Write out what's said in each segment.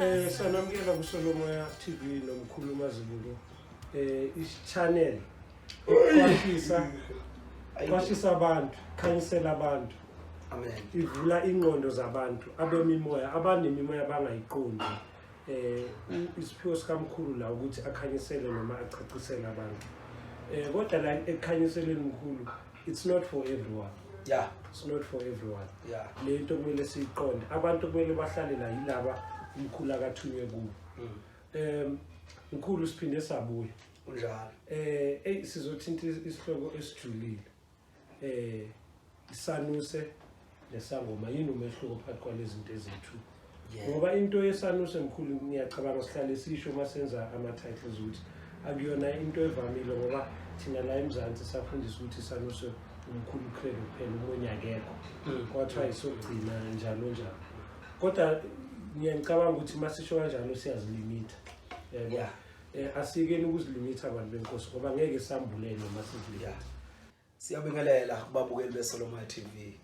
Eh sanamukela kuSolomoya TV nomkhulu mazibuko eh ichannel kwashisa kwashisa abantu khanyisela abantu amen ivula ingqondo zabantu abemimoya abanemimoya abangayiqondi eh isiphiwo sikamkhulu la ukuthi akhanyisele noma acacisele abantu eh kodwa la ekhanyiseleni mkhulu it's not for everyone yeah it's not for everyone yeah le nto kumele siyiqonde abantu kumele bahlale la yilaba umkhulu akathunywe kubo mm. um mkhulu siphinde sabuya unjalo eh hey sizothinta isihloko esijulile eh isanuse nesangoma yini umehluko phakathi kwalezi zinto ezethu ngoba into yesanuse mkhulu ngiyacabanga sihlale sisho uma senza ama-titles ukuthi akuyona into evamile ngoba thina la emzansi safundisa ukuthi isanuse umkhulu ukhulele kuphela umunye akekho hmm. kwathiwa isogcina njalo njalo kodwa ngiyangicabanga ukuthi uma sisho kanjalo siyazilimitha yabo eh, asikeni ukuzilumitha abantu benkosi ngoba ngeke sambulele uma sizilikatha Siyabingelela kubabukeli beSolomon TV.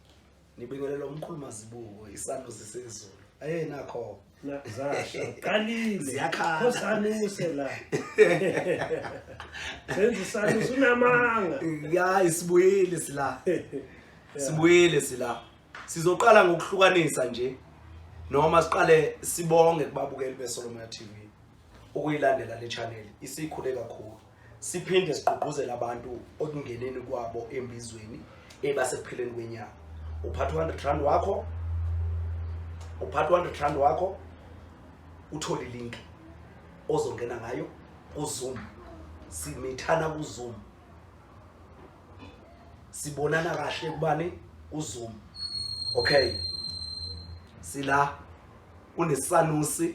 Nibingelela umkhulu mazibuko isando sisezulu. Aye nakho. Nazasho. Qalile. Ziyakhala. Khosanuse la. Senza isando sunamanga. Ya isibuyile sila. Sibuyile sila. Sizoqala ngokuhlukanisa nje. Noma siqale sibonge kubabukeli beSolomon TV. ukuyilandela le channel isikhule kakhulu siphinde sigqugquzele abantu okungeneni kwabo embizweni ebasekuphileni kwenyanga uphatha u-hundred rand wakho uphatha u-hundred rand wakho uthole ilinki ozongena ngayo kuzoom simithana kuzoom sibonana kahle kubani uzoom okay sila unesanusi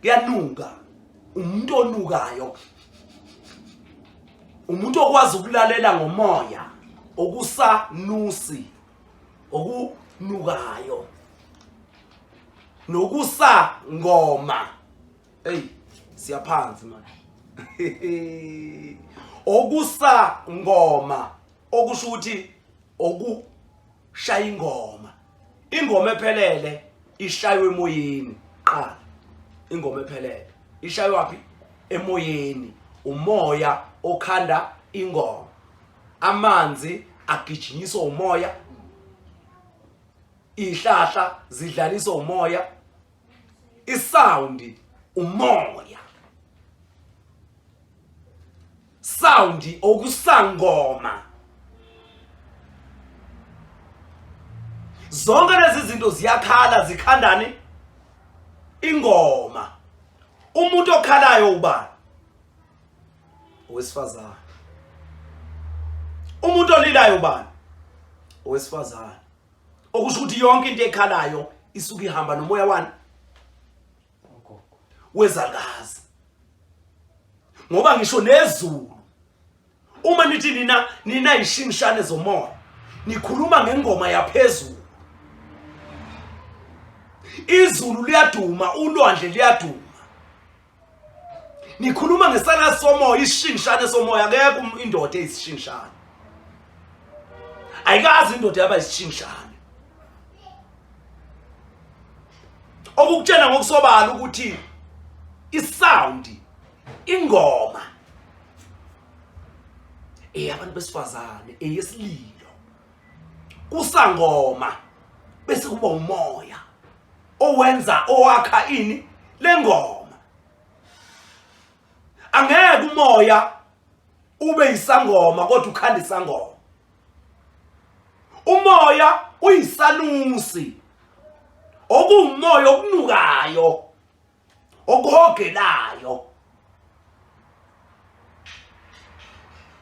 kuyanuka umuntu onukayo umuntu okwazi ukulalela ngomoya okusanusi okunukayo nokusa ngoma hey siyaphansi manje okusa ngoma okusho ukuthi oku shaya ingoma ingoma ephelele ishaywe emoyeni qala ingoma ephelele ishaywe waphi emoyeni umoya okhanda ingoma amanzi agijinyiswa umoya ihlahla zidlaliswa umoya isound umoya sound okusangoma zonke lezi zinto ziyakhala zikhandane ingoma umuntu okhalayo ubani owesifazane umuntu olilayo ubani owesifazane okusho ukuthi yonke into ekhalayo isuke ihamba nomoya wani wezangazi ngoba ngisho nezulu uma nithi nina nina ishingishane zomoya nikhuluma ngengoma yaphezulu izulu liyaduma ulwandle liyaduma Ngikhuluma ngesana somoya isishingishane somoya akekho um-, indoda eyisishingishane. Ayikazi indoda yaba isishingishane. Okukutshena ngokusobala ukuthi isound ingoma eyabantu besifazane eyesililo kusangoma bese kuba umoya owenza owakha ini lengoma angeke umoya ube isangoma kodwa ukhanda isangoma umoya uyisanusi okuwumoya okunukayo okuhogelayo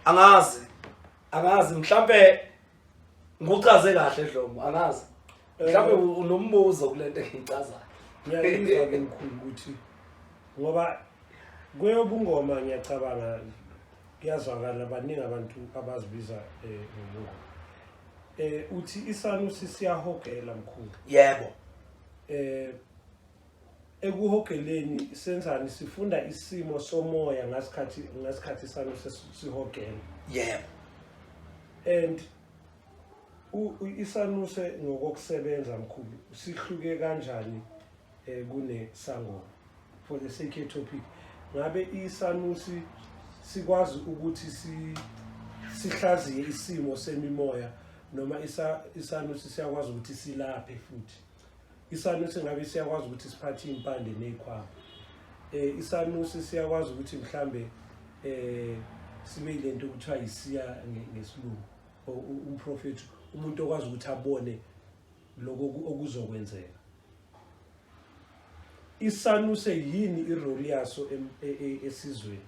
angazi angazi mhlambe nguchaze kahle dlomo angazi mhlambe eh. unombuzo kulento engicazayo ngiyayizwa ke mkhulu ukuthi ngoba kweyobungoma ngiyacabanga kuyazwakala baningi abantu abazibiza eh, ngomngoma eh uthi isanusi siyahogela mkhulu yebo eh ekuhogeleni senzani sifunda isimo somoya ngasikhathi ngasikhathi sami sesihogela yebo and isanuse ngokokusebenza mkhulu sihluke kanjani eh, kunesangoma for the sake topic ngabe isanusi sikwazi ukuthi si sihlaziye isimo semimoya noma isanusi siyakwazi ukuthi silaphe futhi isanusi ngabe siyakwazi ukuthi siphathe iy'mpande ney'khwama um isanusi siyakwazi ukuthi mhlambe um sibe yile nto okuthiwa yisiya ngesilungu umprofethi umuntu okwazi ukuthi abone loko okuzokwenzeka isanuse yini irole yaso e, e, esizweni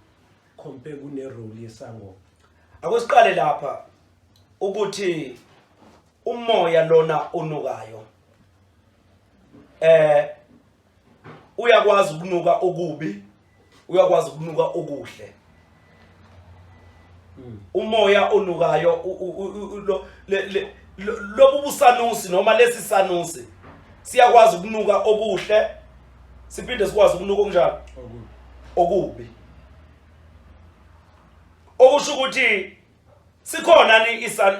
compare kunerole yesangoma akusiqale lapha ukuthi umoya lona onukayo eh uyakwazi ukunuka okubi uyakwazi ukunuka okuhle hmm. umoya onukayo lobu busanusi noma lesi sanusi siyakwazi ukunuka okuhle siphinde sikwazi ukunuka okunjalo okubi okusho ukuthi sikhona ni isa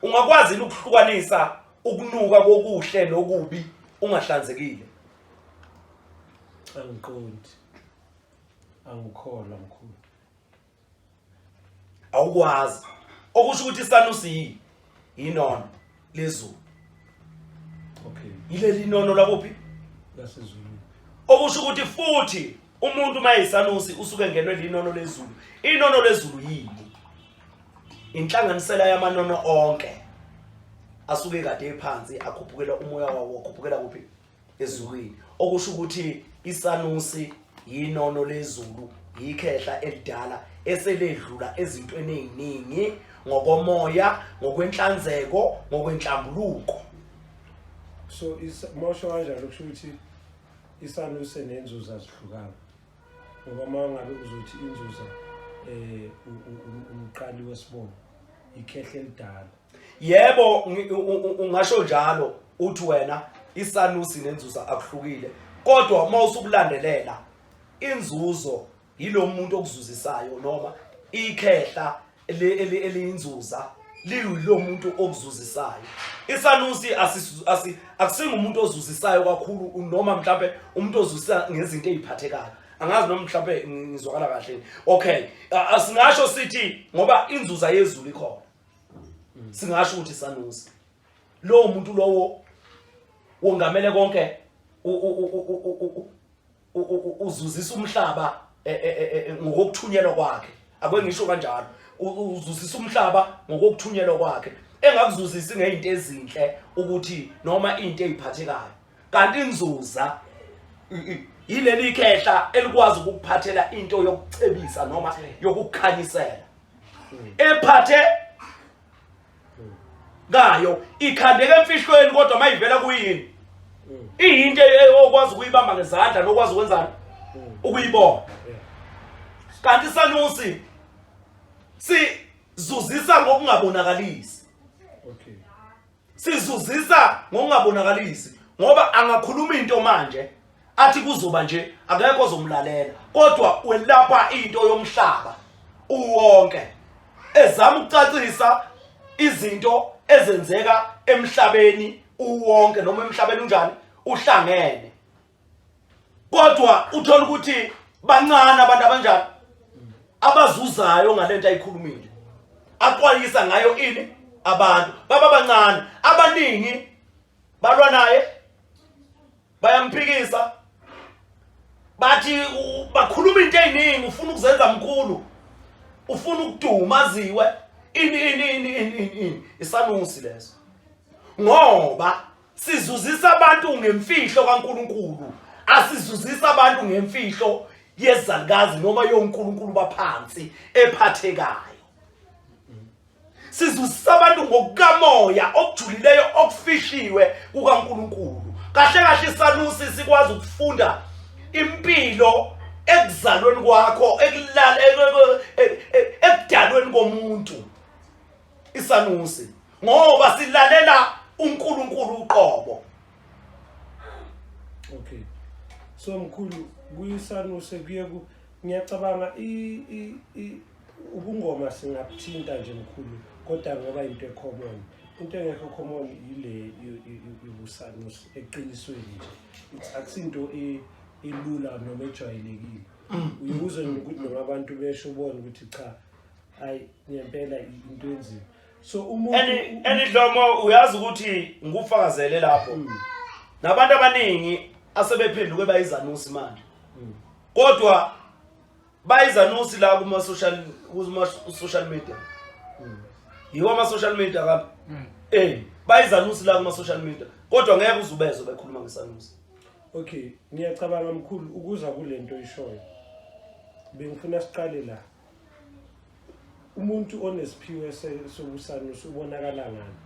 ungakwazi ukuhlukanisa ukunuka kokuhle nokubi ungahlanzekile angiqondi angikholwa mkhulu awukwazi okusho ukuthi isanusi yini yinona lezulu okay yileli nono lakuphi lasezulu okusho ukuthi futhi umuntu mayisanusi usuke ngenwe linono lezulu inono lezulu yini inhlanganisela yamanono onke asuke kade ephansi akhuphukela umoya wawo akhuphukela kuphi ezulwini okusho ukuthi isanusi yinono lezulu yikhehla elidala eseledlula ezintweni eziningi ngokomoya ngokwenhlanzeko ngokwenhlambuluko so mosho kanjalo kusho ukuthi isanusi nenzuza zihlukana ngoba uma ngabe uzothi inzuza um umqali wesibongo ikhehle elidala yebo ungasho njalo uthi wena isanusi nenzuza akuhlukile kodwa uma usukulandelela inzuzo yilo muntu okuzuzisayo noma ikhehla eliyinzuza liyilo muntu okuzuzisayo isanusi akusinga umuntu ozuzisayo kakhulu noma mhlawumbe umuntu ozuzisa ngezinto eziphathekayo angazi noma mhlawumbe ngizwakala kahle okay asingasho sithi ngoba inzuza yezulu ikhona singasho ukuthi isanusi lowo muntu lowo wongamele konke uzuzisa umhlaba e, e, e, ngokuthunyelwa kwakhe akwe ngisho kanjalo uzuzisa umhlaba ngokuthunyelwa kwakhe engakuzuzisi ngezinto ezinhle ukuthi noma into eziphathekayo kanti inzuza yileli khehla elikwazi ukuphathela into yokucebisa noma yokukhanyisela ephathe kayo ikhandeka emfihlweni kodwa mayivela kuyini iyinto okwazi ukuyibamba ngezandla nokwazi ukwenzani ukuyibona kanti sanusi sizuzisa ngokungabonakalisi okay sizuzisa ngokungabonakalisi ngoba angakhuluma into manje athi kuzoba nje akekho ozomlalela kodwa welapha into yomhlaba uwonke ezama ukucacisa izinto ezenzeka emhlabeni uwonke noma emhlabeni unjani uhlangene kodwa uthola ukuthi bancane abantu abanjani abazuzayo ngalento ayikhulumile akwalisa ngayo ini abantu baba bancane abaningi balwa naye bayamphikisa bathi bakhuluma into eziningi ufuna ukuzenza mkhulu ufuna ukuduma aziwe ini ini ini ini isanunsi leso ngoba sizuzisa abantu ngemfihlo kaNkuluNkulu asizuzisa abantu ngemfihlo yezalukazi noma yoNkulunkulu baphansi ephathekayo sizuzisa abantu ngokukamoya okujulileyo okufihliwe kukaNkuluNkulu kahle kahle isanusi sikwazi ukufunda impilo ekuzalweni kwakho ekulala e, e, e, ekudalweni komuntu isanusi ngoba silalela uNkulunkulu uqobo okay so mkhulu kuyisanuse kuye ku ngiyacabanga i i i ubungoma singabuthinta nje mkhulu kodwa ngoba into ecommon into engekho common yile yobusanuse eqinisweni nje it's akusinto e elula noma ejwayelekile mm. uyibuze nokuthi noma abantu besho ubone ukuthi cha hayi ngempela into enzima so umuntu and and idlomo uyazi ukuthi ngikufakazele lapho mm. nabantu abaningi asebephenduke bayizanusi manje mm. kodwa bayizanusi la kuma social kuma social media mm. yiwa ama social media kabi mm. eh bayizanusi la kuma social media kodwa ngeke uzubezwe bekhuluma ngesanusi okay ngiyacabanga mkhulu ukuza kulento ishoyo bengifuna siqale la umuntu onesiphiwo sobusanusi ubonakala ngani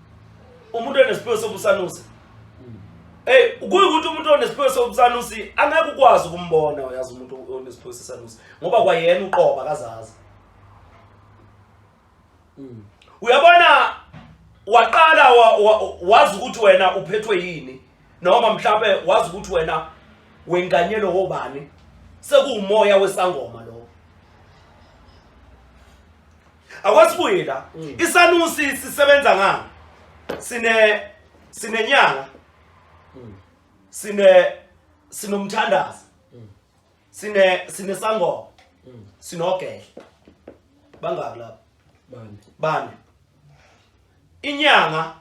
umuntu onesiphiwo sobusanusi hmm. Hey kuyukuthi umuntu onesiphiwo sobusanusi angeke ukwazi ukumbona uyazi umuntu onesiphiwo sesanusi ngoba kwayena uqoba kazazi hmm. uyabona waqala wazi ukuthi wena uphethwe yini noma mhlawumbe wazi ukuthi wena wenganyelwe wobani sekuwumoya wesangoma lo akwasibuye la mm. isanusi sisebenza ngani sine sinenyanga mm. sine sinomthandazi mm. sine sinesangoma sinogele bangaki lapho bane bane inyanga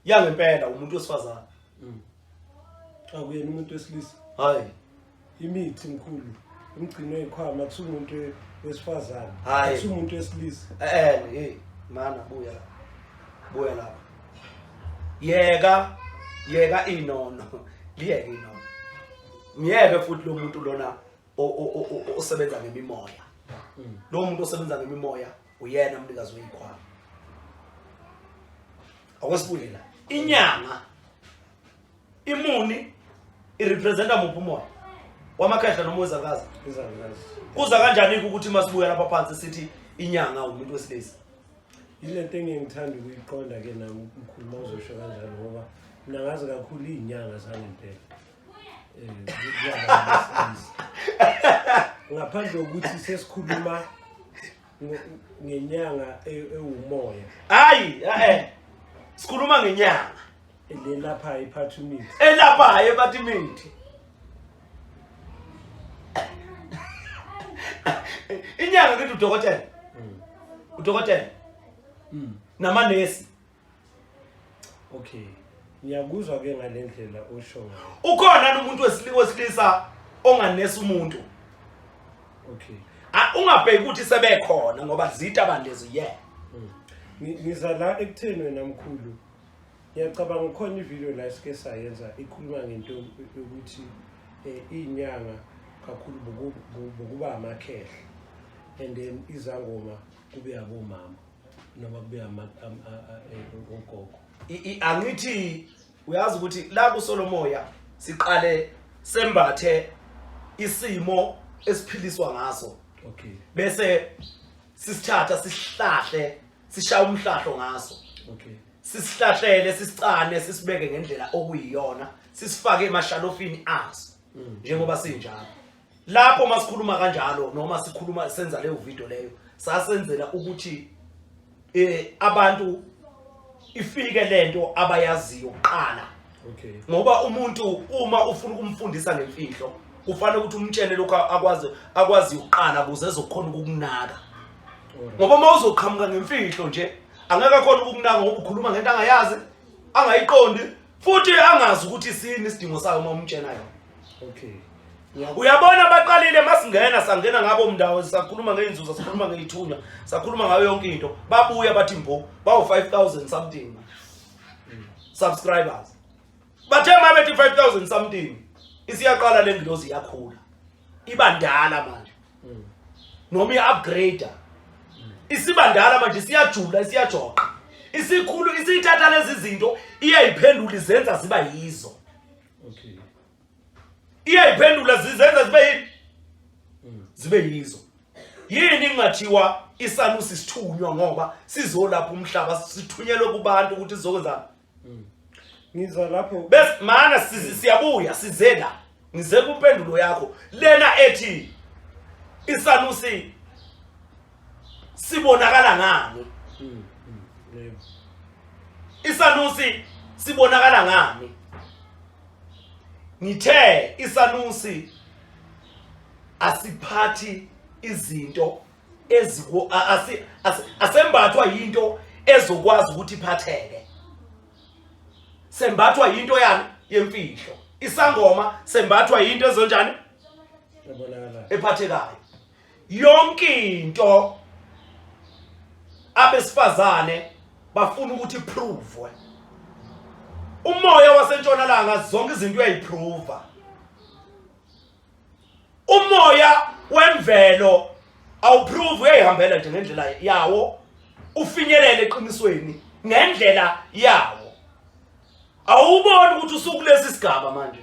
yangempela umuntu wesifazane mm. akuyena umuntu wesilisa hayi imithi mkhulu umgcino ikhwama kusuke umuntu wesifazane kusuke umuntu wesilisa eh hey mana buya buya lapha yeka yeka inono liyeke inono myeke futhi lo muntu lona osebenza ngemimoya mm. lo muntu osebenza ngemimoya uyena umnikazi weyikhwama akwesibuye la inyanga imuni irepresenta muphi umoya wamakhehla noma wezakazi kuza kanjani ukuthi masibuya lapha phansi sithi inyanga umuntu wesilisa yile nto engeke ngithanda ukuyiqonda ke nami mkhulu mawuzosho kanjalo ngoba mna ngazi kakhulu iy'nyanga zangempela Eh, ngaphandle kokuthi sesikhuluma ngenyanga e-, ewumoya hayi eh sikhuluma ngenyanga elapha iphatha imithi elapha hayi ephatha imithi inyanga kithi udokotela hmm. udokotela hmm. namanesi okay ngiyakuzwa ke ngale ndlela osho ngayo ukhona yini umuntu wesilisa wesilisa onganesa umuntu okay Ah, ungabheki ukuthi sebekhona ngoba zita bandezi ye Ngi- ngiza la ekutheni wena mkhulu ngiyacabanga ukhona ivideo la esike sayenza ikhuluma ngento yokuthi eh, iy'nyanga kakhulu boku- bo- bokuba amakhehla and then izangoma kube abomama noma kube ama- am- a- a- eh, ogogo I- i- angithi uyazi ukuthi la kusolomoya siqale sembathe isimo esiphiliswa ngaso okay bese sisithatha sisihlahle sishaya umhlahlo ngaso okay sisihlahlele sisicane sisibeke ngendlela okuyiyona sisifake emashalofini aso njengoba sinjalo lapho masikhuluma kanjalo noma sikhuluma senza leyo video leyo sasenzela ukuthi eh abantu ifike lento abayaziyo kuqala okay ngoba umuntu uma ufuna ukumfundisa ngemfihlo kufanele ukuthi umtshele lokho akwazi akwazi ukuqala kuze ezokhona ukukunaka ngoba uma uzoqhamuka ngemfihlo nje angeke akhona ukukunaka ngoba ukhuluma ngento angayazi angayiqondi futhi angazi ukuthi sini isidingo sayo uma umtshena yona Okay. Uyabona baqalile masingena sangena ngabo mndawo sakhuluma ngeinzuzo sakhuluma ngeithunywa sakhuluma ngayo yonke into babuya bathi mbo bawo 5000 something subscribers bathe mabethi 5000 something isiyaqala lengilozi yakhula iba ndala manje noma iupgrader isiba ndala manje siyajula siyajoqa isikhulu isithatha lezi zinto iyayiphendula izenza ziba yizo okay iyayiphendula zizenza zibe yini mm. zibe yizo yini ingathiwa isalusi sithunywa ngoba sizolapha umhlaba sithunyelwe kubantu ukuthi sizokwenza mm. ngiza lapho bese mana siyabuya sizela ngize kumpendulo yakho lena ethi isalusi sibonakala ngani hmm, hmm, isanusi sibonakala ngani ngithe isanusi asiphathi izinto eziku asembathwa into ezokwazi ukuthi iphatheke sembathwa into yani yemfihlo isangoma sembathwa into ezonjani ephathekayo yonke into abesifazane bafuna ukuthi iprove umoya wasentshonalanga zonke izinto uyayiprove umoya wemvelo awuprove uyayihambela nje ngendlela yawo ufinyelele eqinisweni ngendlela yawo Awuboni ukuthi usukulesi sigaba manje.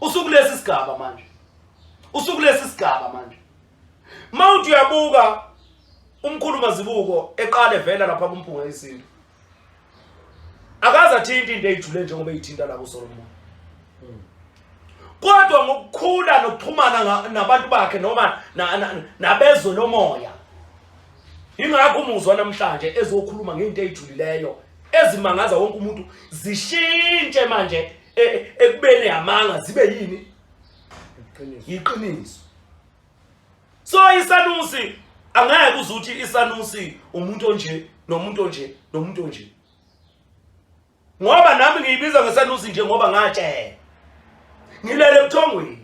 Usukulesi sigaba manje. Usukulesi sigaba manje. Mawuthi uyabuka umkhulu mazibuko eqale vela lapha kumpunga isintu. Akaza thinta into eyijule njengoba eyithinta la kuSolomon. Kodwa ngokukhula nokuxhumana nabantu bakhe noma nabezwe lomoya. Ingakho umuzwa namhlanje ezokhuluma ngento eyijulileyo ezimangaza wonke umuntu zishintshe manje e, e, ekubeni yamanga zibe yini yiqiniso so isanusi angeke kuze ukuthi isanusi umuntu onje nomuntu onje nomuntu onje ngoba nami ngiyibiza ngesanusi nje ngoba ngatshela ngilele ebuthongweni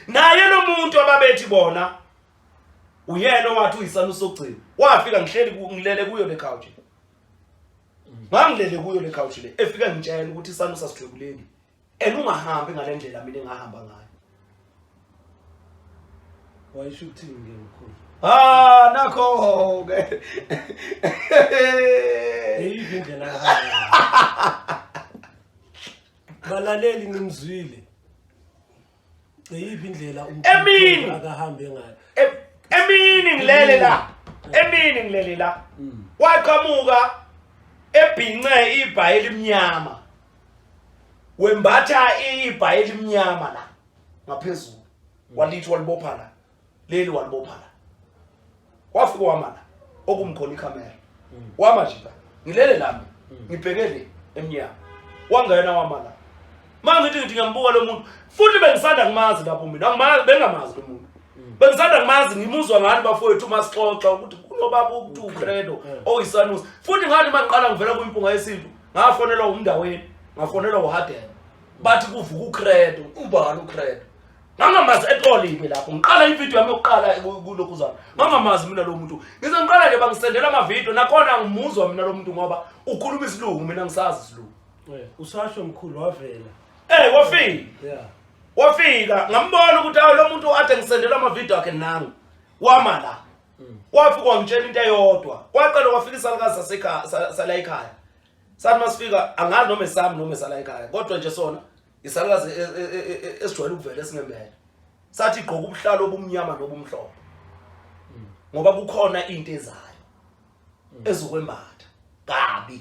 naye lo muntu ababethi bona uyena owathi uyisana usogcina wafika ngihleli ngilele kuyo le couch ngangilele kuyo le couch le efika ngitshela ukuthi isana usasithwekuleni and ungahambi ngale ndlela mina engahamba ngayo wayisho ukuthini ke mkhulu ah nakho ke yeyiphi indlela balaleli nimzwile iyiphi indlela Emini! umkhulu akahambe ngayo E- emini ngilele la emini ngilele la waqhamuka ebhince ibhayi elimnyama wembatha ibhayi elimnyama la ngaphezulu walithi walibopha la leli walibopha la wafika wama la okumkhona ikhamera mm. wama nje la ngilele lami mm. ngibhekele emnyango wangena wama la manje ngithi ngithi ngiyambuka lo muntu futhi bengisanda ngimazi lapho mina angimazi bengamazi lo muntu mm. bengisanda ngimazi ngimuzwa ngani bafowethu uma sixoxa ukuthi kunobaba uku credo oyisanus futhi ngathi maqala ngivela kwimpunga yesintu ngafonelwa umndaweni ngafonelwa uhadela bathi kuvuka ucredo ubani ucredo ngangamazi at all yimi lapho ngiqala ivideo yami yokuqala kulokhu zami ngangamazi mina lo muntu ngize ngiqala nje bangisendela amavideo nakhona angimuzwa mina lo muntu ngoba ukhuluma isilungu mina ngisazi isilungu eh, usasho mkhulu wavela eh wafika yeah wafika ngambona ukuthi awu lo muntu ade ngisendela amavideo akhe nangu wama la mm. wafika wangitshela into eyodwa kwaqala wafika isalukazi sasekhaya sala ekhaya sathi masifika angazi noma esami noma esala ekhaya kodwa nje sona isalukazi e- e- e- e- e- esijwayele ukuvela esingemele sathi igqoka ubuhlalo obumnyama nobumhlophe ngoba kukhona into ezayo ezokwembatha kabi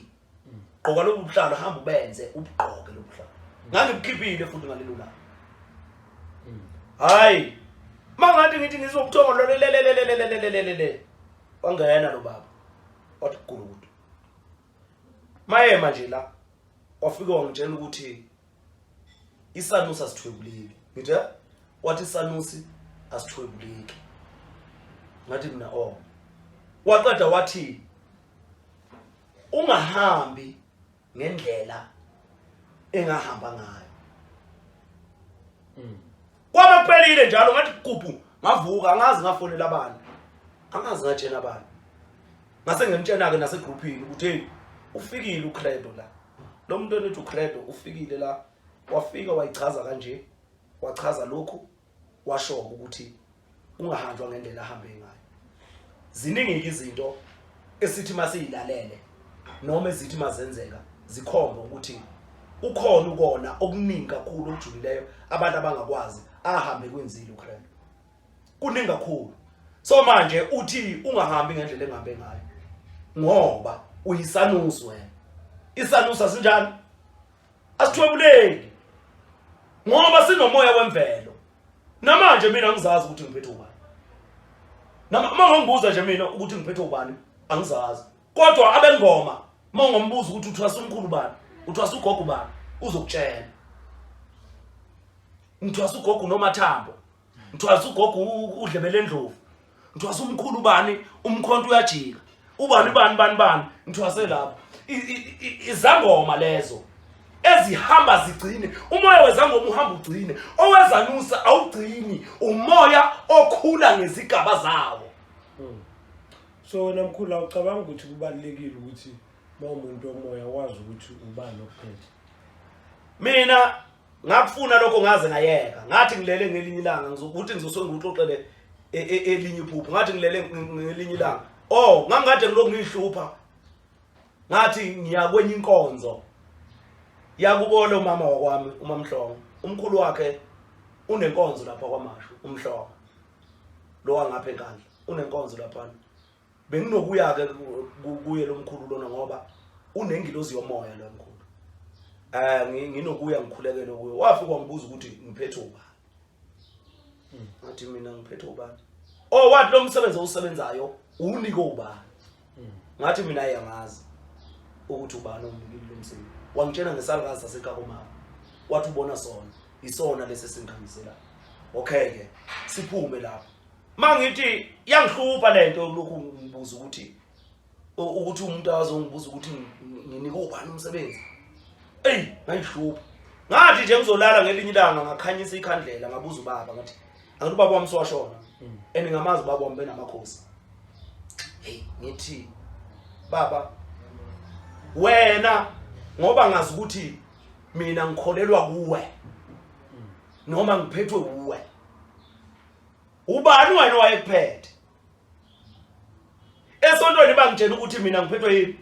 gqoka lobu buhlalo hamba ubenze ubugqoke lobu buhlalo ngangibukhiphile futhi ngalelo langa hayi mangathi ngithi ngizobuthongo lolelelelelelelelelele wangena lo baba wathi gulukudu mayema nje la wafika wangitshela ukuthi isanusi asithwebuleki ngithe wathi isanusi asithwebuleki ngathi mina oh waqeda wathi ungahambi ngendlela engahamba ngayo mm. Kwaba kuphelile njalo ngathi kubhu ngavuka angazi ngafonela abantu. Angazi ngatshela abantu. Ngase ngimtshena ke nase groupini ukuthi hey ufikile uCredo la. Lo muntu onithi uCredo ufikile la. Wafika wayichaza kanje. Wachaza lokhu washo ukuthi kungahanjwa ngendlela ahambe ngayo ziningi izinto esithi masiyilalele noma ezithi mazenzeka zikhomba ukuthi ukhona ukona okuningi kakhulu okujulileyo abantu abangakwazi ahambe kwinzile uKristu kuningi kakhulu so manje uthi ungahambi ngendlela engabe ngayo ngoba uyisanusi wena isanusi asinjani asithwebuleki ngoba sinomoya wemvelo Namanje mina angizazi ukuthi ngiphethe ubani. Nama uma ngibuza nje mina ukuthi ngiphethe ubani angizazi. Kodwa abengoma uma ngombuza ukuthi uthwasa umkhulu bani, uthwasa ugogo bani uzokutshela. Ngithwasa ugogo nomathambo. Ngithwasa ugogo udlebele endlovu. ngithwasa umkhulu ubani umkhonto uyajika ubani bani bani bani ngithwase lapho izangoma lezo ezihamba zigcine umoya wezangoma uhamba ugcine owezanusa awugcini umoya okhula ngezigaba zawo hmm. so wena mkhulu awucabanga ukuthi kubalulekile ukuthi uma umuntu omoya wazi ukuthi ubani okuphethe mina ngakufuna lokho ngaze ngayeka ngathi ngilele ngelinye ilanga ngizokuthi ngizoswe ngikuxoxele e, e, elinye iphupho ngathi ngilele ngelinye ilanga oh ngangikade ngilokhu ngiyihlupha ngathi ngiya kwenye inkonzo yakubona umama wakwami umamhlongo umkhulu wakhe unenkonzo lapha kwamashu umhlongo lo wangapha enkandla unenkonzo laphana benginokuya-ke kuye lo mkhulu lona ngoba unengilozi yomoya lo mkhulu um nginokuya ngikhulekele kuye wafika wangibuza ukuthi ngiphethe ubani hmm. ngathi mina ngiphethe ubani o oh, wathi lo msebenzi owusebenzayo uwunike ubani hmm. ngathi mina ayangazi ukuthi ubani omnikile lo msebenzi wangitshena ngesalukazi saseqakomama wathi ubona sona isona lesi esingikhanyiselayo okay-ke siphume lapho mangithi yangihlupha lento lokhu ngibuza ukuthi ukuthi umuntu azongibuza ukuthi nginike ubani umsebenzi ey ngayihlupha ngathi nje ngizolala ngelinye ilanga ngakhanyisa ikhandlela ngabuza ubaba ngathi angithi ubaba wami siwashona mm. and ngamazi ubaba wami benamakhosi hey ngithi baba wena ngoba ngazi ukuthi mina ngikholelwa kuwe mm. noma ngiphethwe kuwe ubani wena owayekuphethe esontweni bangitshela ukuthi mina ngiphethwe yini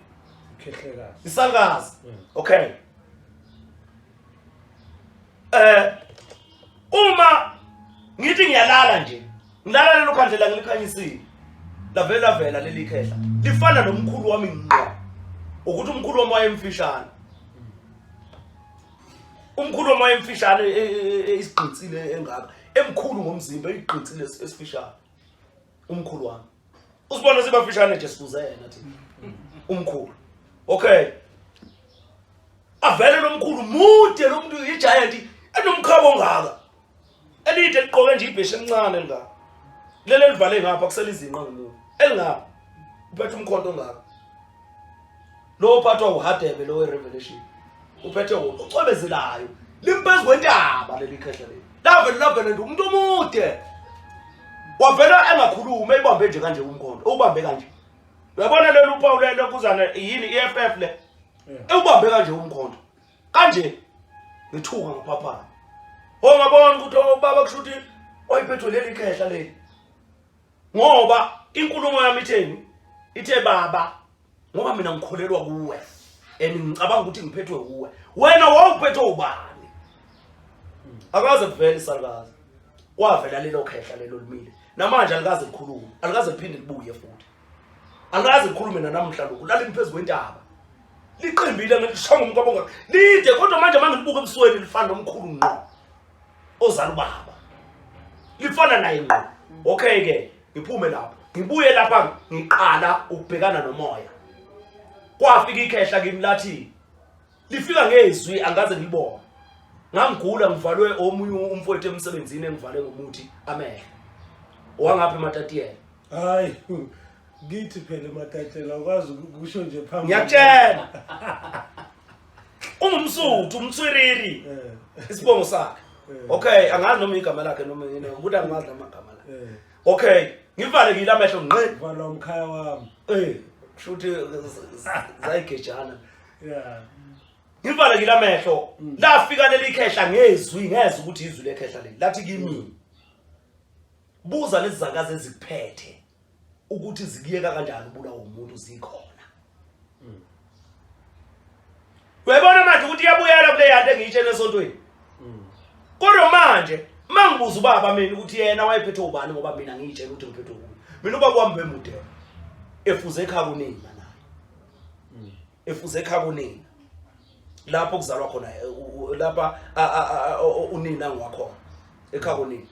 ikhehlekazi isakazi hmm. okay eh uma ngithi ngiyalala nje ngilala lelo khandlela ngilikhanyisile lavela vela leli khehla lifana nomkhulu wami ngqo ukuthi umkhulu wami wayemfishane umkhulu omoya emfishane e, e, e, isigqitsile engaka emkhulu ngomzimba igqitsile esifishane umkhulu wami usibona sibafishane nje sikuzena thi umkhulu okay avele lomkhulu mude lomuntu igiant enomkhabo ongaka elide liqoke nje ibheshe elincane nga lele livale ngapha kuselizinqa ngilo elingapha uphethe umkhonto ngapha lo ophathwa uhadebe lo revelation uphethe ucwebezelayo limphezu kwentaba leli khehla leli lavele lavele nje umuntu omude wavela engakhulumi eyibambe nje kanje umkhonto ubambe kanje uyabona lelo uphawu lelo kuzana yini i-ff le ewubambe kanje umkhonto kanje ngithuka ngiphaphana ongabona oh, ukuthi ubaba oh, kusho ukuthi oyiphethwe leli khehla leli ngoba inkulumo yami itheni ithe baba ngoba mina ngikholelwa kuwe and ngicabanga ukuthi ngiphethwe kuwe wena wawuphethwe ubani akaze kuvele isalukazi kwavela lelo khehla lelo limile namanje alikaze likhulume alikaze liphinde libuye futhi angazi ngikhulume nanamuhla lokhu lalimi phezu kwentaba liqimbile ngishonga umkwabonga lide kodwa manje uma ngilibuka ebusweni lifana nomkhulu ngqo ozala ubaba lifana naye ngqo okay ke ngiphume lapho ngibuye lapha ngiqala ukubhekana nomoya kwafika ikhehla kimi lathi lifika ngezwi angaze ngilibone ngangigula ngivalwe omunye umfowethu emsebenzini engivale ngomuthi amehlo wangapha ematatiele hayi ngithi phela ematayitela ukwazi ukusho nje phambi ngiyakutshela ungumsuthu umthwiriri Eh, isibongo sakhe eh, okay angazi noma igama lakhe noma yini ukuthi angimazi noma igama lakhe eh. okay ngivalekile amehlo ngqi vala umkhaya wami eh kushuthi zayigejana ya ngivalekile amehlo Mm. lafika leli khehla ngezwi ngezwe ukuthi izwi lekhehla leli lathi kimi Buza lezi zakazi ezikuphethe ukuthi zikuyeka kanjani ubulawa umuntu zikhona. Mm. Uyabona manje ukuthi iyabuyela kule yanto engiyitshela esontweni. Mm. Kodwa manje mangibuza ubaba mina ukuthi yena wayephethe ubani ngoba mina ngiyitshela ukuthi ngiphethe ubani. Mina ubaba wami bemude. Efuze ekhaya kuningi. efuze ekhaya kunina lapho kuzalwa khona eh, lapha unina ngiwakhona ekhaya kunina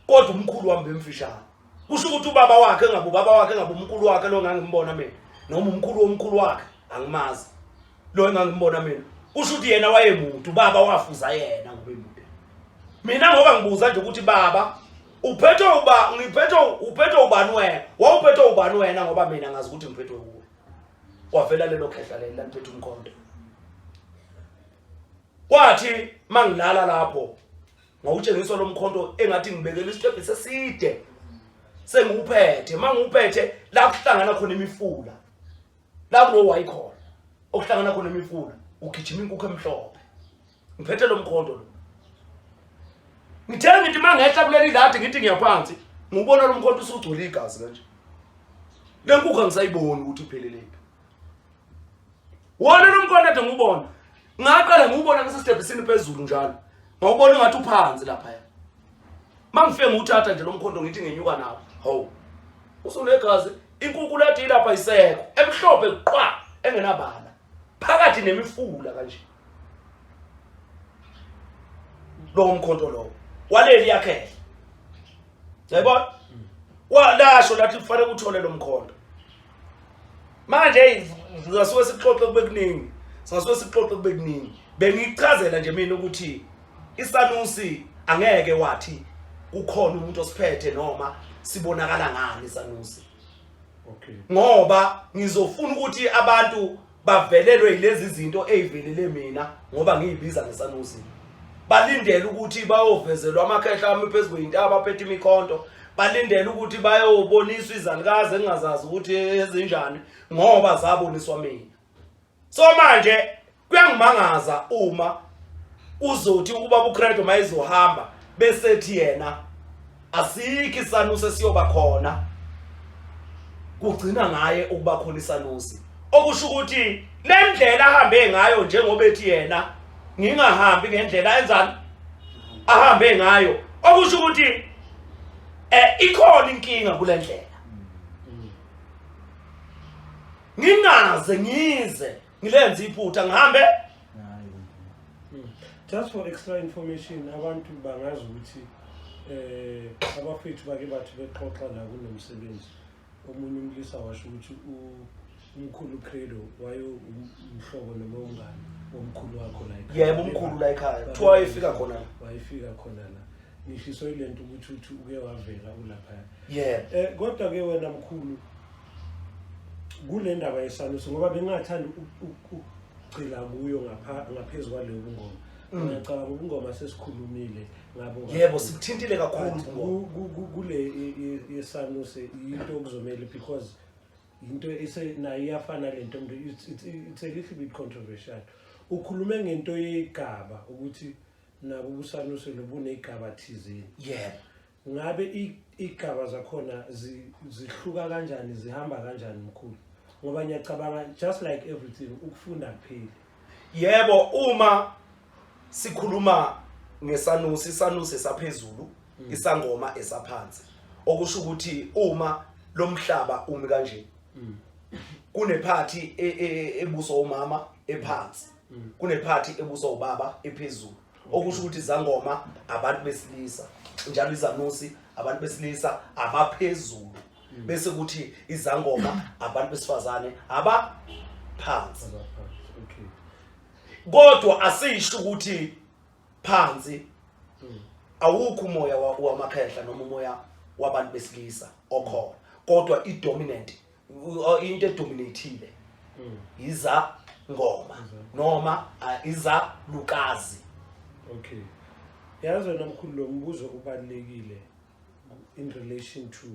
kodwa umkhulu wami bemfishane kusho ukuthi ubaba wakhe engabe ubaba wakhe engabe umkhulu wakhe lo ngangimbona mina noma umkhulu womkhulu wakhe angimazi lo engangimbona mina kusho ukuthi yena wayemuntu ubaba wafuza yena ngoba emuntu mina ngoba ngibuza nje ukuthi baba uphethwe uba ngiphethwe uphethwe ubani wena wawuphethwe ubani wena ngoba mina ngazi ukuthi ngiphethwe kuwe wavela lelo khehla leli lantwethu umkhonto kwathi mangilala lapho ngawutshengiswa lo mkhonto engathi ngibekela isitebhe seside sengiwuphethe mangiwuphethe la kuhlangana khona imifula la kulowayikhona okuhlangana khona imifula ugijima inkukhu emhlophe ngiphethe lo mkhonto lo ngithe ngithi uma ngehla kuleli ladi ngithi ngiyaphansi ngubona lo mkhonto usugcwele igazi kanje le nkukhu angisayiboni ukuthi ipheleleni wona lo mkhonto ade ngubona ngaqala ngubona ngisesitebhisini phezulu njalo ngawubona ngathi uphansi lapha ya mangife nguthatha nje lomkhondo ngithi ngenyuka nawo ho usunegazi inkukhu lathi ilapha isekho emhlophe qwa engenabala phakathi nemifula kanje lowo mkhonto lowo waleli yakhehla yayibona walasho lathi kufanele uthole lo mkhonto manje eyi ngasuke sikuxoxe kube kuningi singasuke sikuxoxe kube kuningi bengichazela nje mina ukuthi isanusi angeke wathi kukhona umuntu osiphethe noma sibonakala ngani isanusi okay ngoba ngizofuna ukuthi abantu bavelelwe yilezi zinto ezivelele mina ngoba ngiyibiza ngesanusi balindele ukuthi bayovezelwa amakhehla ami phezu kweyintaba aphethe imikhonto balindele ukuthi bayoboniswa izalukazi engingazazi ukuthi ezinjani ngoba zaboniswa mina so manje kuyangimangaza uma uzothi ukuba uCredo mayizohamba besethi yena asikho isanusi esiyoba khona kugcina ngaye ukuba khona isanusi okusho ukuthi le ndlela ahambe ngayo njengoba ethi yena ngingahambi ngendlela enzani ahambe ngayo okusho ukuthi eh ikhona inkinga kule ndlela ngingaze ngize ngilenze iphutha ngihambe hmm. just for extra information abantu bangazi ukuthi eh abafethu bake bathi bexoxa la kunomsebenzi omunye umlisa washo ukuthi umkhulu credo wayo umhlobo noma ungani womkhulu wakho la ekhaya yebo umkhulu la ekhaya kuthiwa wayefika khona wayefika khona la ngishiso ilento ukuthi uthi uke wavela ulapha yebo eh, kodwa ke wena mkhulu kule ndaba yesaluso ngoba bengingathanda ukugcila kuyo ngaphezu kwaleyo bungoma mm. ngiyacabanga ubungoma sesikhulumile ngabo yebo sikuthintile kakhulu kule yesaluso yinto okuzomele because yinto nayo iyafana le nto it's a little bit controversial ukhulume ngento yegaba ukuthi nabo ubusaluso lobunegaba thizeni yebo ngabe igaba zakhona zihluka kanjani zihamba kanjani mkhulu ngoba ngiyacabanga just like everything ukufunda kupheli yebo uma sikhuluma ngesanusi isanusi esaphezulu mm. isangoma esaphansi okusho ukuthi uma lomhlaba umi kanje mm. kunephathi e, e, e, ebuso umama ephansi mm. kunephathi ebuso ubaba ephezulu okusho ukuthi izangoma abantu besilisa njalo izanusi abantu besilisa abaphezulu hmm. bese kuthi izangoma abantu besifazane abaphansi kodwa asisho ukuthi phansi hmm. awukho umoya wamakhehla noma umoya wabantu besilisa okhona kodwa i-dominant o- into edominathile Mm. iza ngoma noma ah, iza lukazi Okay. Yazi wena mkhulu lo mbuzo ubalekile in relation to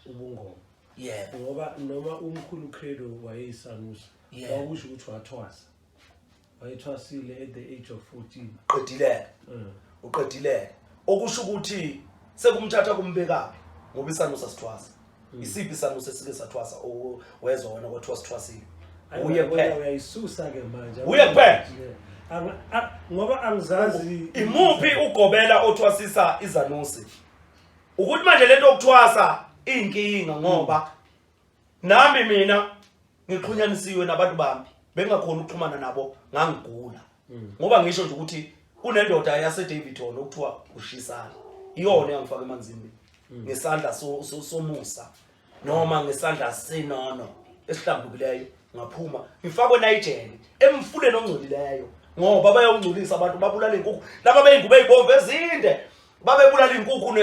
ubungoma. yebo Ngoba noma umkhulu Credo wayeyisanusi, Yeah. wakusho ukuthi wathwasa. wayethwasile at the age of 14 qedileke Mm. uqedileke okusho ukuthi sekumthatha kumbekaphi ngoba isanu sasithwasa Hmm. isiphi isanu sesike sathwasa o- wezwa wena kwathiwa sithwasile Ayi, uye wena kuphela uyayisusa ke manje Uye kuphela? Yeah. Angi- a- ngoba angizazi imuphi ugobela othwasisa izanusi ukuthi manje lento yokuthwasa iyinkinga ngoba nami mina ngixhunyanisiwe nabantu bami bengakhona ukuxhumana nabo ngangigula mm. ngoba ngisho nje ukuthi kunendoda yaseDavidton okuthiwa ushisana iyona yangifaka emanzini mm. ngesandla somusa noma ngesandla senono esihlambukileyo ngaphuma ngifakwe nayijele emfuleni ongcolileyo ngoba bayawungcolisa abantu babulala inkukhu laba beyingubo ezibomvu ezinde babebulala inkukhu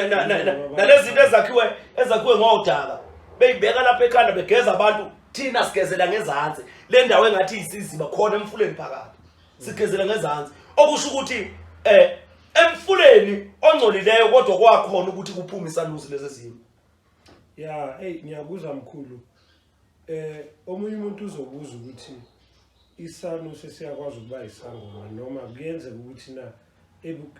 nalezinto ezakhiwe ezakhiwe ngodaka beyibeka lapha ekhanda begeza abantu thina sigezela ngezansi le ndawo engathi isiziba khona emfuleni phakathi sigezela ngezansi okusho ukuthi eh emfuleni ongcolileyo kodwa kwakhona ukuthi kuphume isalusi lezi zimo ya hey ngiyakuzwa mkhulu Eh omunye umuntu uzobuza ukuthi isanu sesiyakwazi ukuba isangoma noma kuyenzeka ukuthi na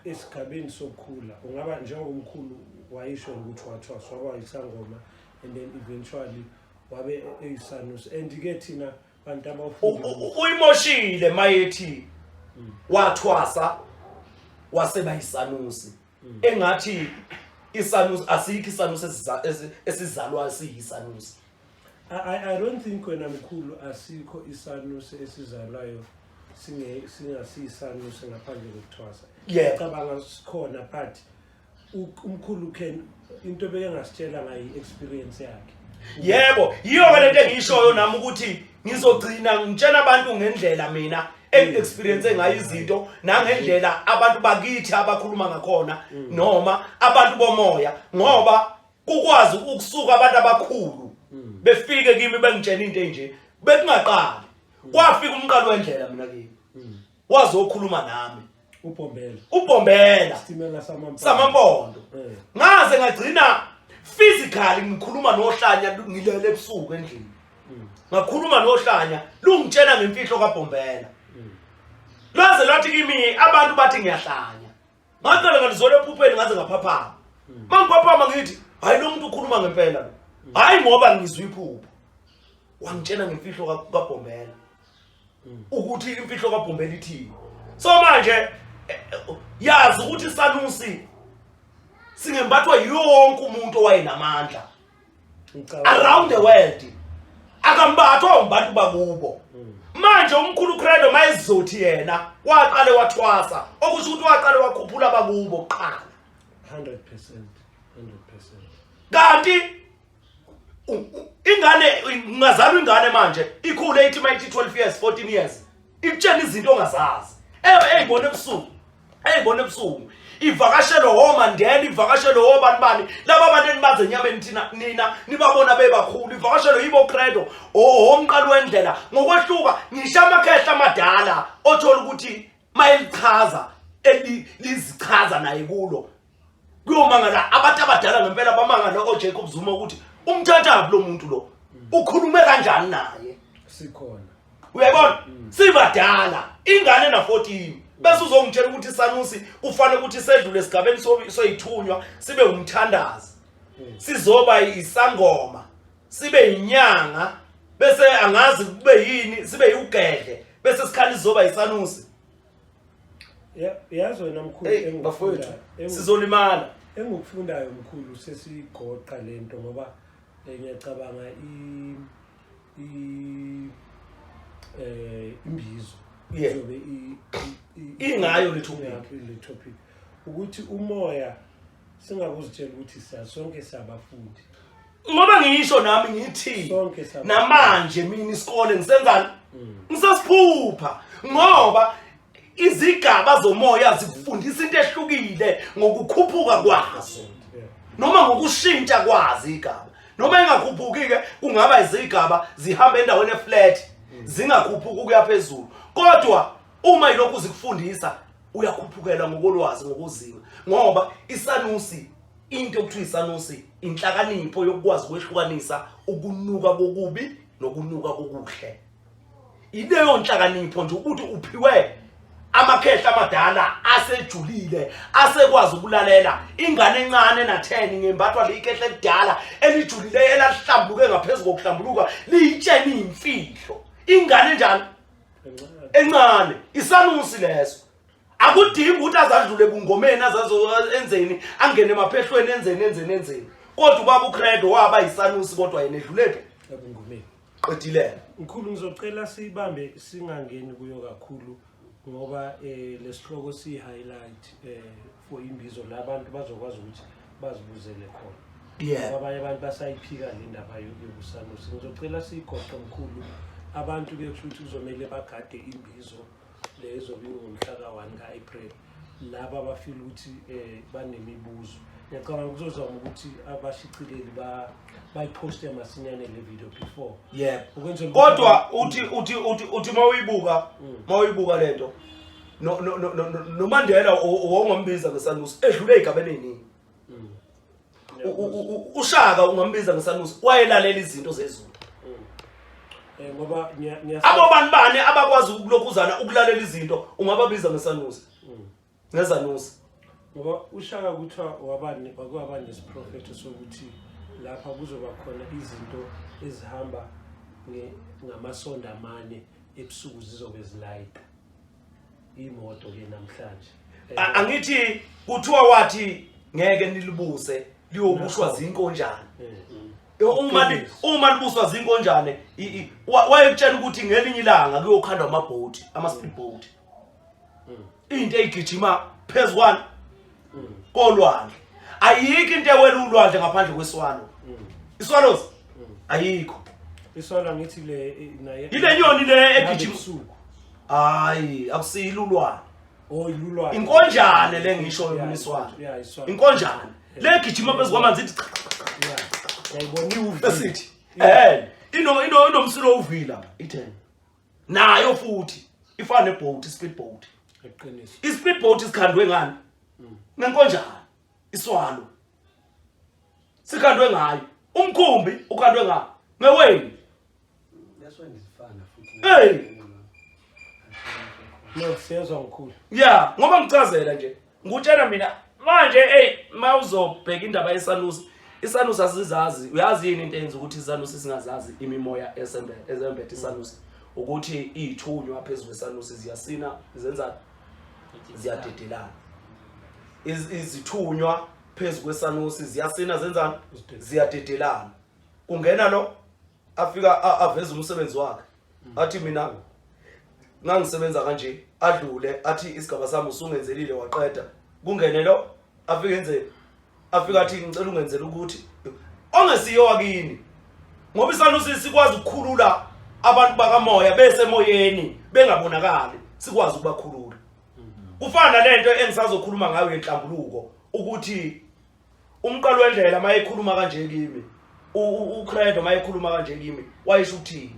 esigabeni sokukhula ungaba njengomkhulu wayisho ukuthi wathwaswa kwayisangoma and then eventually wabe eyisanus and ke thina bantu abafunda uyimoshile mayethi hmm. wathwasa waseba yisanusi engathi isanusi asikho isanusi esiza- esi- esizalwa siyisanusi I, I, I don't think wena mkhulu asikho isanusi esizalwayo singe- singasiyisanusi ngaphandle kokuthwasa Yebo. cabanga sikhona but u- umkhulu can into beke ngasitshela ngayo i-experience yakhe yebo yiyo ke lento engiyishoyo nami ukuthi ngizogcina ngitshena abantu ngendlela mina engiexperience ngayo izinto nangendlela abantu bakithi abakhuluma ngakhona mm. noma abantu bomoya ngoba kukwazi ukusuka abantu abakhulu mm. befike kimi bengitshena into enje bekungaqali mm. kwafika umqalo wendlela mina kimi wazokhuluma nami ubhombela ubhombela stimela samampondo samampondo Eh. ngaze ngagcina physically ngikhuluma nohlanya lu- ngilele ebusuku endlini Mm. ngakhuluma nohlanya lungitshela ngemfihlo kabhombela Mm. lwaze lwathi kimi abantu bathi ngiyahlanya ngaqala ngalizole ephupheni ngaze ngaphaphama Mm. ma ngiphaphama ngithi hhayi lo muntu ukhuluma ngempela lo hhayi ngoba ngizwa iphupho wangitshela ngemfihlo ka- kabhombela ukuthi imfihlo kaBhumbela ithini so manje eh, eh, yazi ukuthi sanusi singembathwa yonke umuntu owayenamandla around the world akambathwa umbantu bakubo hmm. manje umkhulu credo mayezizothi yena waqale wathwasa okusho ukuthi waqale wakhuphula bakubo kuqala 100% 100% kanti ingane ungazalwa ingane manje ikhule ithi mayithi 12 years 14 years ikutshela izinto ongazazi eyibona ebusuku eyibona ebusuku ivakashelwe womandela ivakashelwe wobani bani laba bantu enibazi enyameni thina nina nibabona bebakhulu ivakashelwe yibo credo owomqalo wendlela ngokwehluka ngisho amakhehla amadala othola ukuthi mayelichaza lizichaza naye kulo kuyomangala abantu abadala ngempela bamangala oJacob Zuma ukuthi umthathabi lo muntu lo ukhulume kanjani naye sikhona uyabona mm. sibadala ingane na 14 bese uzongitshela ukuthi sanusi kufanele ukuthi sedlule esigabeni soyithunywa sibe umthandazi mm. sizoba isangoma sibe inyanga bese angazi kube yini sibe iwugedle bese sikhali zoba isanusi yazi wena mkhulu engikufundayo sizolimala engikufundayo mkhulu sesigoqa lento ngoba eh, ngiyacabanga i i eh imbizo izobe ingayo le topic le topic ukuthi umoya singakuzitshela ukuthi sonke siyabafundi ngoba ngisho nami ngithi Sonke saba- namanje mina isikole ngisenzani ngisasiphupha ngoba izigaba zomoya zikufundisa into ehlukile ngokukhuphuka kwazo Yeah. noma ngokushintsha kwazo igaba noma engakhuphuki-ke kungaba izigaba zihamba endaweni eflat zingakhuphuki ukuya phezulu kodwa uma ilokhu zikufundisa uyakhuphukela ngokolwazi ngokuzinga ngoba isanusi into okuthiwa isanusi inhlakanipho yokukwazi ukwehlukanisa ukunuka kokubi nokunuka kokuhle ileyo nhlakanipho nje ukuthi uphiwe amakhehla amadala asejulile asekwazi ukulalela ingane encane natheni ngembathwa leyikhehla elidala elijulile elahlambuluke ngaphezulu kokuhlambuluka liyitsheni imfihlo ingane njani encane isanusi leso akudingi ukuthi azadlule bungomeni azazoenzeni angene emaphehlweni enzeni enzeni enzeni kodwa ubaba ucredo waba yisanusi kodwa yena edlulephi ebungomeni qedilele mkhulu ngizocela sibambe singangeni kuyo kakhulu ngoba eh lesihloko si highlight eh for imbizo labantu bazokwazi ukuthi bazibuzele khona yeah abanye abantu basayiphika le ndaba yokusanusi ngizocela siyigoqe mkhulu abantu ke kusho ukuthi kuzomele bagade imbizo lezo bingomhlaka 1 ka-april laba abafile ukuthi um banemibuzo ngiyacabanga kuzozama ukuthi abashicileli bayiphoste masinyane le video before yeah kodwa uthi uthi uthi uthi mawuyibuka mm. mawuyibuka lento no no no nomandela owongombiza ngesanusi edlule igabeni eningi ushaka ungambiza ngesanusi wayelalela izinto zezulu eh, ngoba abo bantu bane abakwazi ukulokhuzana ukulalela izinto ungababiza ngesanusi mm. ngezanusi ngoba ushaka kuthiwa wabani wakwaba nesiprofetho sokuthi lapha kuzoba khona izinto ezihamba ngamasonda amane ebusuku zizobe zilayita imoto ke namhlanje A- angithi kuthiwa wathi ngeke nilibuse liyobushwa zinkonjane Eh, uma li- uma libuswa zinkonjane i- i- wa- wayekutshela ukuthi ngelinye ilanga kuyokhandwa amabhoti ama-speed boat into eyigijima phezu kwani kolwandle ayikho into ewela ulwandle ngaphandle kweswalo iswallows ayikho iswalo angithi le naye ile nyoni le egijima usuku hayi akusiyilo ulwane oh ilulwane inkonjane le ngisho umniswalo inkonjane le gijima phezu kwamanzi ithi yayibona iwuvi esithi eh ino ino inomsilo uvila itheni nayo futhi ifana neboat ispeed boat iqiniso ispeed boat isikhandwe ngani mm. ngenkonjana iswalo sikhandwe ngayo umkhumbi ukhandwe ngayo ngeweni hey no siyezwa mkhulu yeah ngoba ngicazela nje ngutshena mina manje eyi uma uzobheka indaba yesanusi isanusi asizazi uyazi yini into eyenza ukuthi isanusi singazazi imimoya ezembethe isanusi ukuthi iyithunywa phezu kwesanusi ziyasina zenza ziyadedelana izithunywa phezu kwesanusi ziyasina zenzani ziyadedelana kungena lo afika a- aveze umsebenzi wakhe athi mina ngangisebenza kanje adlule athi isigaba sami usungenzelile waqeda kungene lo afike enze afika athi ngicela ungenzele ukuthi ongesiyo wakini ngoba isanusi sikwazi ukukhulula abantu bakamoya besemoyeni bengabonakali sikwazi ukubakhulula kufana nalento engisazokhuluma ngayo yenhlambuluko ukuthi umqalo wendlela mayekhuluma kanje kimi uCredo mayekhuluma kanje kimi wayisho ukuthini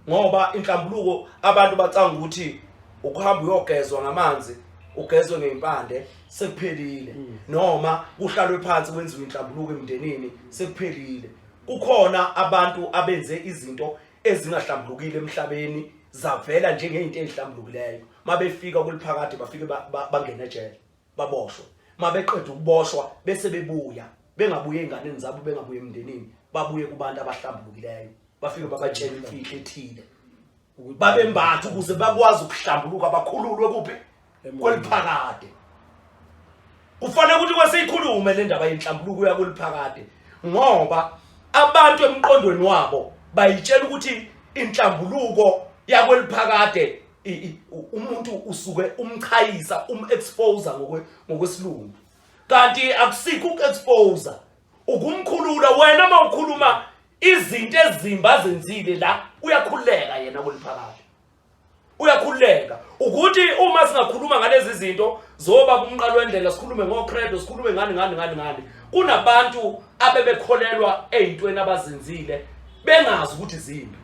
ngoba inhlambuluko abantu bacanga ukuthi ukuhamba uyogezwa ngamanzi ugezwe ngeimpande sekuphelile mm. noma kuhlalwe phansi kwenziwe inhlambuluko emndenini sekuphelile kukhona abantu abenze izinto ezingahlambulukile emhlabeni zavela njengezinto ezihlambulukileyo mabefika kuliphakade bafike bangena ejele baboshwe mabeqeda ukuboshwa bese bebuya bengabuye enganeni zabo bengabuye emndenini babuye kubantu abahlambulukileyo bafike babatshela imfihlo ethile babembatha ukuze bakwazi ukuhlambuluka bakhululwe kuphi kweliphakade kufanele ukuthi kwesiyikhulume le ndaba yenhlambuluko uya kweliphakade ngoba abantu emqondweni wabo bayitshela ukuthi inhlambuluko yakweliphakade umuntu usuke umchayisa umexpose ngokwe ngokwesilungu kanti akusikho ukuexpose ukumkhulula wena mawukhuluma izinto ezimba zenzile la uyakhuleka yena kuliphakathi uyakhuleka ukuthi uma singakhuluma ngalezi zinto zoba kumqalo wendlela sikhulume ngocredo sikhulume ngani ngani ngani ngani kunabantu abebekholelwa ezintweni abazenzile bengazi ukuthi zimbi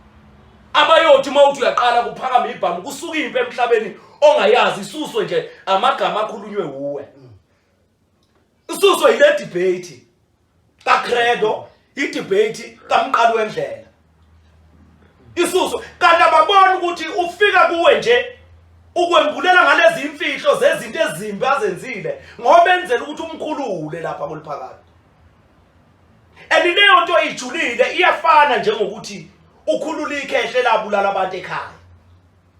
abayothi uma uthi uyaqala kuphakama ibhamu kusuka impi emhlabeni ongayazi isuswe nje amagama akhulunywe wuwe isuswe yile debate kaCredo idebate kamqali wendlela isuswe kanti ababona ukuthi ufika kuwe nje ukwembulela ngalezi imfihlo zezinto ezimbi azenzile ngoba enzela ukuthi umkhulule lapha kuliphakade and leyo nto ijulile iyafana njengokuthi ukhulula ikhehle labulala abantu ekhaya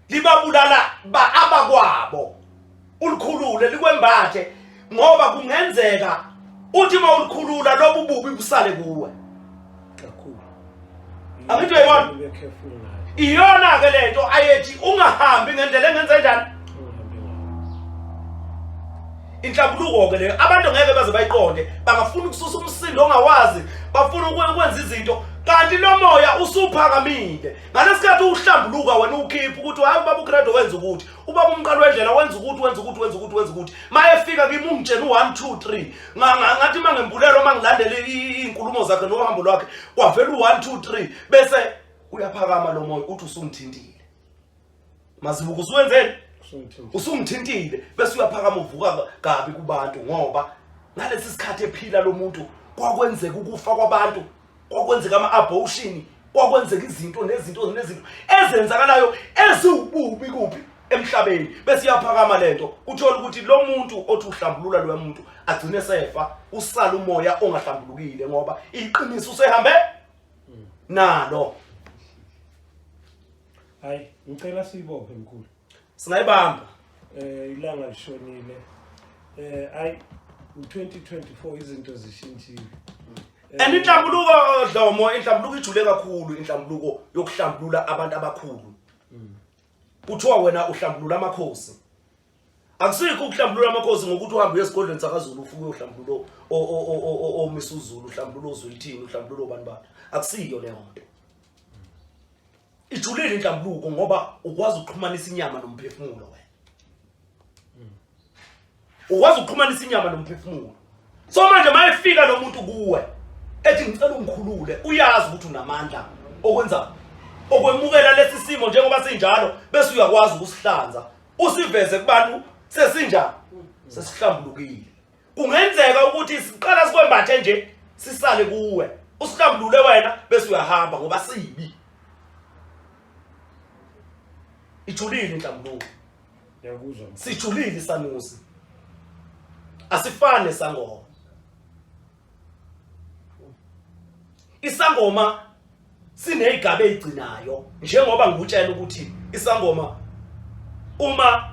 libabulala ba abakwabo ulikhulule likwembathe ngoba kungenzeka uthi uma ulikhulula lobu bubi busale kuwe angithi uyayibona iyona-ke le nto ayethi ungahambi ngendlela engenze njani inhlambuluko-ke leyo abantu ngeke baze bayiqonde bangafuna ukususa umsindo ongawazi bafuna ukwenza izinto kanti lo moya usuphakamile ngalesikhathi uhlambuluka wena uwukhipha ukuthi hhayi ubaba ugrade wenza ukuthi ubaba umqala wedlela wenza ukuthi wenza ukuthi wenza ukuthi wenza ukuthi mayefika kimi ungitshena u-one two three ngathi uma ngembulelo uma ngilandele iy'nkulumo zakhe nohambo lwakhe kwavela u-one two three bese uyaphakama lo moya uthi usungithintile mazibuka usuwenzeni usungithintile bese uyaphakama uvuka kabi kubantu ngoba ngalesi sikhathi ephila lo muntu kwakwenzeka ukufa kwabantu kwakwenzeka ama-abortion kwakwenzeka izinto nezinto nezinto ezenzakalayo eziwububi kuphi emhlabeni bese iyaphakama le nto uthole ukuthi lo muntu othi uhlambulula loya muntu agcine sefa usala umoya ongahlambulukile ngoba iqiniso usehambe nalo hayi ngicela siyibophe mkhulu singayibamba eh ilanga lishonile eh ay 2024 izinto zishintshile eh, and inhlambuluko dlomo inhlambuluko ijule kakhulu inhlambuluko yokuhlambulula abantu abakhulu hmm. kuthiwa wena uhlambulula amakhosi akusikho ukuhlambulula amakhosi ngokuthi uhambe uyesigodlweni sakazulu ufuke uhlambululo omisuzulu uhlambululo ozulithini uhlambululo bantu bantu akusiyo leyo nto ijulile inhlambuluko ngoba ukwazi ukuxhumanisa inyama nomphefumulo wena ukwazi ukuxhumanisa inyama nomphefumulo so manje mayefika lo muntu kuwe ethi ngicela ungikhulule uyazi ukuthi unamandla okwenza okwemukela lesi simo njengoba sinjalo bese uyakwazi ukusihlanza usiveze kubantu sesinjani sesihlambulukile kungenzeka ukuthi siqala sikwembathe nje sisale kuwe usihlambulule wena bese uyahamba ngoba sibi ijulile inhlambuluko ngiyakuzwa sijulile isanusi asifane sangoma isangoma sineyigaba ezigcinayo njengoba ngikutshela ukuthi isangoma uma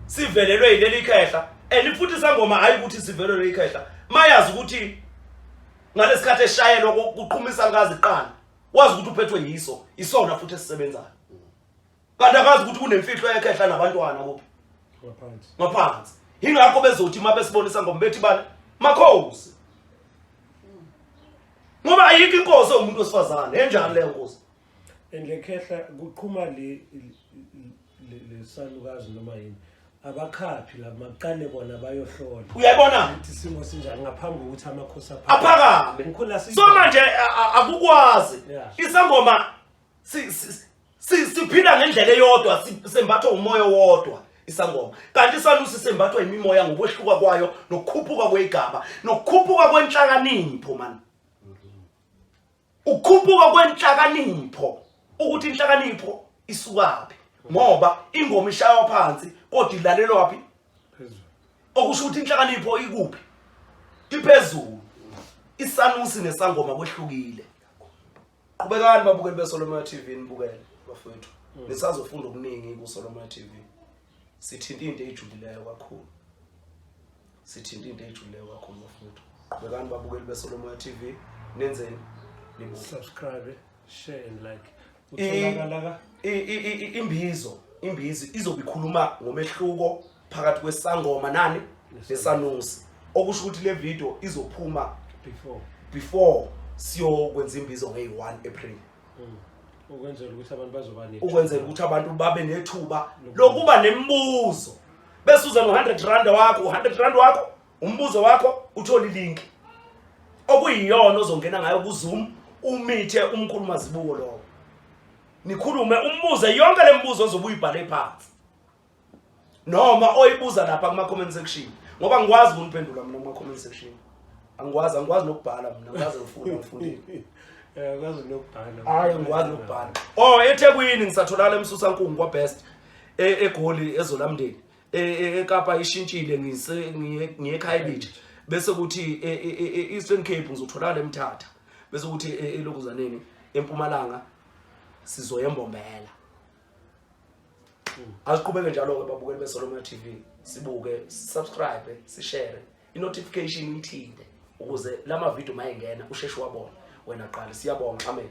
sivelelwe yileli khehla and futhi isangoma hayi ukuthi sivelelwe ikhehla mayazi ukuthi ngalesikhathi eshayelwa kuqhumisa ngazi qala wazi ukuthi uphethwe yiso isona futhi esisebenzayo kanti akazi ukuthi kunemfihlo yakhe ehla nabantwana kuphi ngaphansi ngaphansi ingakho bezothi uma besibonisa ngoba bethi bani makhosi ngoba ayikho inkosi omuntu wesifazane enjani leyo nkosi engekhehla kuqhuma le lesalukazi noma yini abakhaphi la maqale bona bayohlola uyayibona ukuthi simo sinjani ngaphambi kokuthi amakhosi aphakame so manje akukwazi isangoma si- si- si- siphila ngendlela eyodwa si- sembathwa umoya owodwa isangoma kanti isalusi sembathwa imimoya ngokwehluka kwayo nokukhuphuka kweyigaba nokukhuphuka kwenhlakanipho mani ukukhuphuka kwenhlakanipho ukuthi inhlakanipho isukaphi ngoba ingoma ishaywa phansi kodwa ilalelwa phi okusho ukuthi inhlakanipho ikuphi iphezulu isanusi nesangoma kwehlukile qhubekani babukeli beSolomon TV nibukele bafowethu hmm. nisazofunda okuningi kuSolomon TV sithinta into ejulileyo kakhulu sithinta into ejulileyo kakhulu bafowethu qhubekani babukeli beSolomon TV nenzeni nibuke subscribe share and like utholakala ka imbizo imbizi izobe ikhuluma ngomehluko phakathi kwesangoma nani nesanusi okusho ukuthi le video izophuma before before siyokwenza imbizo ngeyi-1 april mm. ukwenzela ukuthi abantu bazoba ukwenzela ukuthi abantu babe nethuba lokuba nemibuzo bese uze no-100 rand wakho u-100 rand wakho umbuzo wakho uthole ilinki okuyiyona ozongena ngayo kuzoom umithe umkhulu mazibuko lowo nikhulume umbuze yonke le mbuzo ozobe uyibhale phansi noma oyibuza lapha kuma comment section ngoba ngikwazi ukuniphendula mina kuma comment section angikwazi angikwazi nokubhala mina ngaze ngifuna ngifundile eh ngaze nokubhala hayi ngikwazi nokubhala oh eThekwini ngisatholala emsusa nkungu kwa best e, egoli ezolamndeni e, e, eKapa ishintshile ngise ngiye eKhayelitsha bese kuthi eEastern Cape ngizotholala eMthatha bese kuthi elokuzaneni empumalanga sizoyembombela asiqhubeke njalo-ke babukeli besolomia t v sibuke sisubscribe sishare i-notification uyithinte ukuze la mavidiyo uma engena usheshe wabona wena qala siyabonga amen